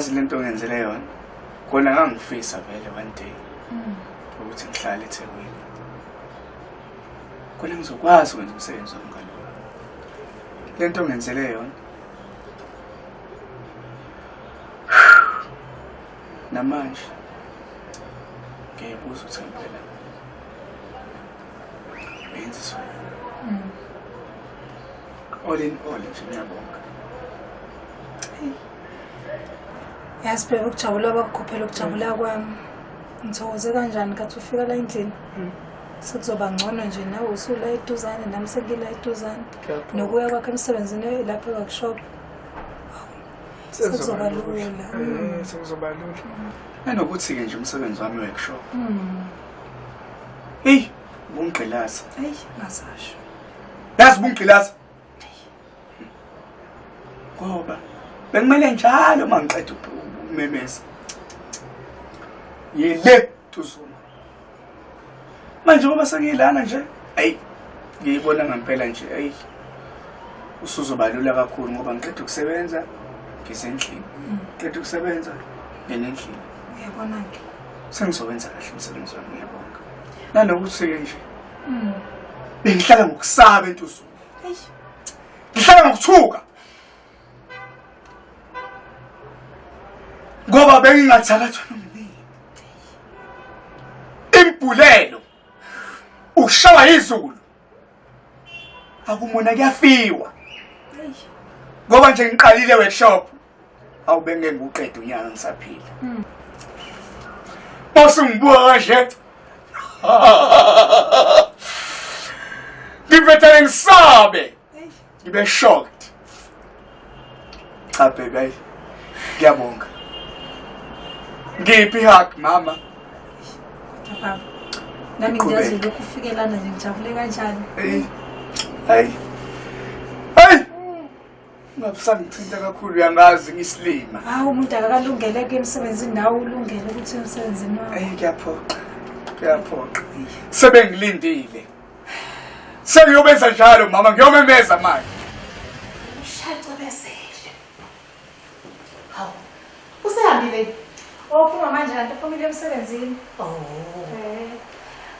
yazi lento ngenzele yona kona ngangifisa vele one day ukuthi ngihlale eThekwini khona ngizokwazi ukwenza umsebenzi wami kalula le nto ngenzele yona namanje ngiyayibuza ukuthi ngempela uyenziswa mm. all in all nje ngiyabonga yazi phela ukujabula bakukhophela ukujabula kwami Ngithokoze kanjani kathi ufika la endlini. Hmm. Sekuzoba ngcono nje nawe usula eduzane nami sengila eduzane. Nokuya kwakhe emsebenzini lapha workshop. Sekuzoba lula. Eh, hmm. Sekuzoba lula. Nanokuthi ke nje umsebenzi wami workshop. Hmm. Hey, bungqilaza. Hey, ngasasho. Yazi bungqilaza. ngoba bekumele njalo uma ngiqeda ukumemeza yile tuzuma manje ngoba sengiyilana nje ayi ngiyibona ngempela nje ayi usuzobalula kakhulu ngoba ngiqeda ukusebenza ngisendlini mm. ngiqeda ukusebenza nginendlini uyabona-ke sengizowenza kahle umsebenzi wami uyabonga nanokuthi-ke nje mm. bengihlala ngokusaba entuzulu Eish. Ngihlala ngokuthuka. Ngoba bengingathakathwa nomnini. Imbhulelo. Ukushawa izulu. Akumona kuyafiwa. Eish. Ngoba nje ngiqalile workshop awu bengeke ngiwuqede unyaka ngisaphila hmm. basungibuka kahle ngivethele ngisabe ngibe shocked cha baby ayi ngiyabonga ngiphi hug mama nami ngiyazi lokhu ufikelana nje ngijabule kanjani hayi hayi Ungabusangithinta kakhulu uyangazi ngisilima. Hawu umuntu akakalungele ke emsebenzini nawe ulungele ukuthi emsebenzini wakho. Ayi kuyaphoqa. Kuyaphoqa. Sebengilindile. Sengiyobenza njalo mama ngiyomemeza manje. Usehambile. Ophuma manje kanti uphumile emsebenzini. Oh. Eh.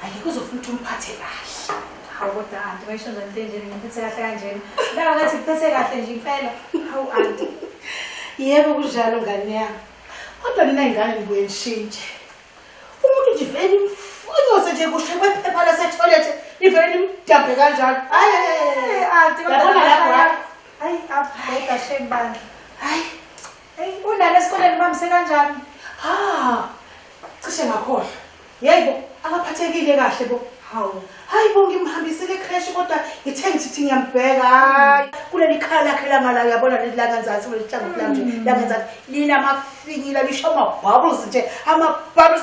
Hayi kuzofuna ukuthi umphathe kahle. Hawu kodwa anti ngisho nje into enjeni ngiphethe kahle kanjena. Lawa ngathi ngiphethe kahle nje impela. Hawu anti. Yebo kunjalo ngane yami. Kodwa mina ingane ngibuye ngishintshe. Umuntu nje vele imfunyose nje kusho kwephepha lase toilet ivele limdabhe kanjalo. Hayi anti kodwa lapho. Hayi abheka shembandla. Hayi Eyi unalo esikoleni umamise kanjani? Ha! Cishe ngakhohlwa. Yeyi bo, akaphathekile kahle bo. Hawu. Hayi bo ngimhambisile ecreche kodwa ngithe ngithi ngiyambheka. Hayi, kuleli khaya lakhe lamala uyabona leli langenzansi kuleli hlangothi lami nje. Langenzansi linamafinyila lisho ama bubbles nje. Ama bubbles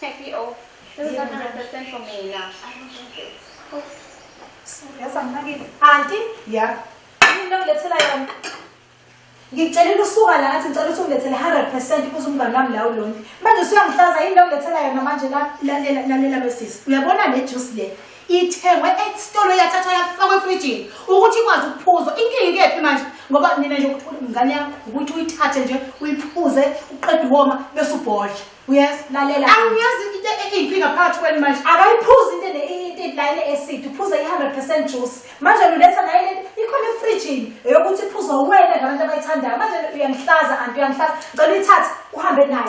Thank you. This is 100% for me now. I don't want this. Oh. Yes, I'm not giving. Auntie? Yeah. Into ngilethela yona. Ngikucelela usuka la ngathi ngicela ukuthi ungilethele 100% kuze umngane wami la ulonke. Manje usuyangihlaza yini into ngilethela yona manje la lalela lalela losisi. Uyabona le juice le. Ithengwe esitolo yathathwa yafakwa efrijini ukuthi ikwazi ukuphuzwa. Inkinga ikephi manje? Ngoba nina nje ukuthi umngane yakho ukuthi uyithathe nje uyiphuze uqede woma bese ubhodla. uyasilalela angiyazi into eyinkinga phakathi kwenu manje akayiphuzi into line acid uphuza i-hundred percent juice manje luletha naye ikhona efrijini eyokuthi iphuzwa uwena ngabantu abayithandayo manje uyangihlaza anti uyangihlaza ngicela uyithathe uhambe nayo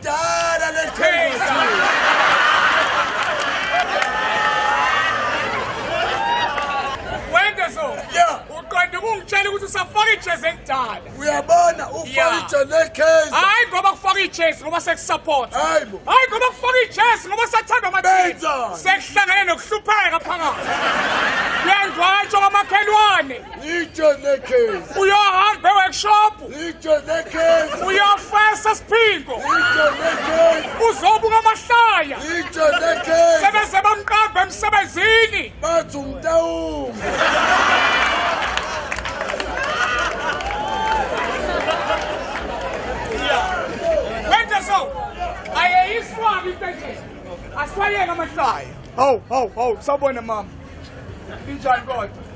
Dala le Wende so. Yeah. Uqonde ukungitshela ukuthi usafaka ijezi elidala. Uyabona ufaka ijezi lekhezi. Hayi ngoba kufaka ijezi ngoba sekusupport. Hayi bo. Hayi ngoba kufaka ijezi ngoba sathanda amathini. Sekuhlangene nokuhlupheka phakathi. Uyangwatsho kwamakhelwane. Ijezi lekhezi. Uyohamba e-workshop. uyafesa siphingo uzobuka amahlaya sebeze bamqamba emsebenzini bathi umtawumi wenze so ayeyiswaba intesheni aswayeke amahlaya hawu hawu hawu sawubona mama injani kodwa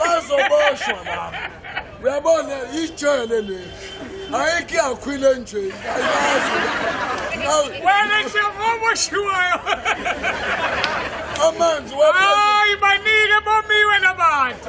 bazoboshwa laba uyabona yijele le ayikho iyakhwile nje wena nje ngoboshiwayo amanzi hayi banike bomiwe labantu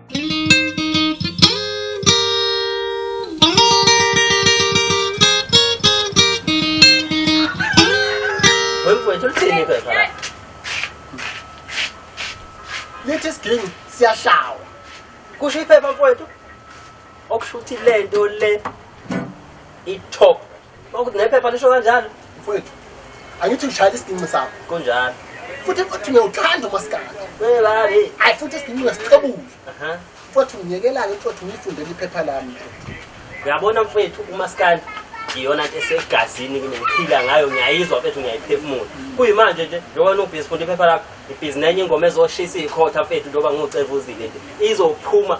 lithi isiginci siyashawa kusho iphepha mfowethu okusho ukuthi le nto le i-top Okuthi nephepha lisho kanjalo. Mfowethu, angithi ushayela isidinci sakho. Kunjalo. Futhi futhi ngiyawuthanda umaskandi. Welale. Hayi futhi isidinci ngesixebule. Aha. Futhi ngiyekelani futhi ngifundele iphepha lami. Uyabona mfowethu umaskandi iyona nto esegazini kimi ngiphila ngayo ngiyayizwa mfethu ngiyayiphefumula kuyimanje nje njengoba nobhizi funda iphepha lakho ibhizi nenye ingoma ezoshisa ikhotha mfethu njengoba ngiwucevuzile nje izophuma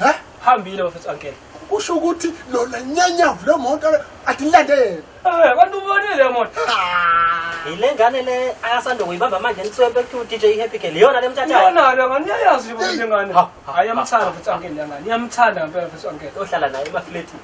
Hä? Hambile bafethu uncle. Usho ukuthi lona nyanyavu le moto atilande yena. Eh, kanti ubonile le moto. Yile ngane le ayasanda kuyibamba manje nitswembe ku DJ Happy Girl. Yona lemthatha. Yona lo ngani yayazi ukuthi ngane. Ayamthanda bafethu uncle ngane. Yamthanda ngempela bafethu uncle. Ohlala naye emafleti.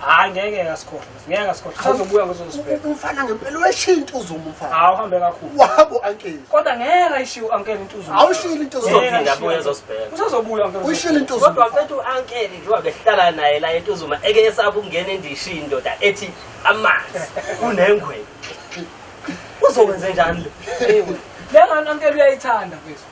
Hayi ngeke akasikhohle. Ngeke akasikhohle. Sazobuya ngizozibheka. Umfana ngempela uyashiya intuzo umfana. Hawu hambe kakhulu. Wabo uncle. Kodwa ngeke ayishiye uncle intuzo. Awushiyile intuzo. Uzophinda abuye ezosibheka. Usazobuya uncle. Uyishiyile intuzo. Kodwa mfethu uncle nje wabehlala naye la entuzuma eke esapha ukungena endishi indoda ethi amanzi unengwe. Uzokwenze njani lo? Hey. Le ngane uncle uyayithanda mfethu.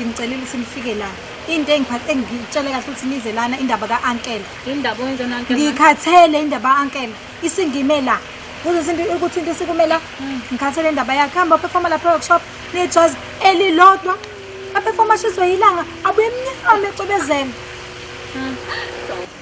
nginicelile ukuthi nifike la into engiphathe engitshele kahle ukuthi nize lana indaba ka-ankela indaba oyenze unanke ngikhathele indaba ka-ankela isingime la uzesinto ukuthi into isikume la hmm. ngikhathele indaba yakhe hamba uphefoma lapha workshop nejazi elilodwa aphefoma ashiswe yilanga abuye emnyama ecobezela hmm.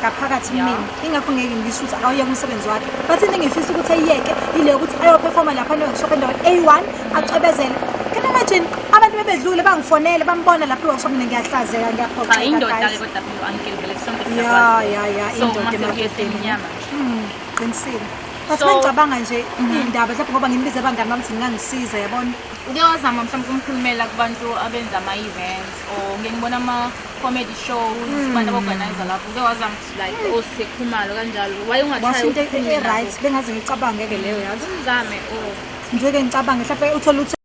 ngaphakathi kumina ingakho ngeke ngisho ukuthi akawuyeke umsebenzi wakhe but into engifisa ukuthi ayiyeke yile yokuthi ayophefoma lapha ne-workshop endaweni a-one acwebezele can you imagine abantu bebedlule bangifonele bambona lapha i-workshop mina ngiyahlazeka ngiyaphoxa Cha, indoda guys. ke kodwa phela u-uncle vele sonke ya siyakwazi. ya ya So, indoda mase emaketeni. kuyehla iminyama nje. Mm, qinisile but So- mengicabanga nje iy'ndaba mhlawumbe ngoba ngimbize abangani bami ukuthi ngingangisiza yabona Ngiyozama mhlawumbe ukumkhulumela kubantu abenza ama-events or ngiyengibona ama comedy shows hmm. abantu abaorganize lapho uke wazama ukuthi like hmm. osekhumalo kanjalo waye ungashayo into e-right bengaze ngicabange-ke leyo yazi umzame o oh. ngizeke ngicabange mhlawumbe uthole ukuthi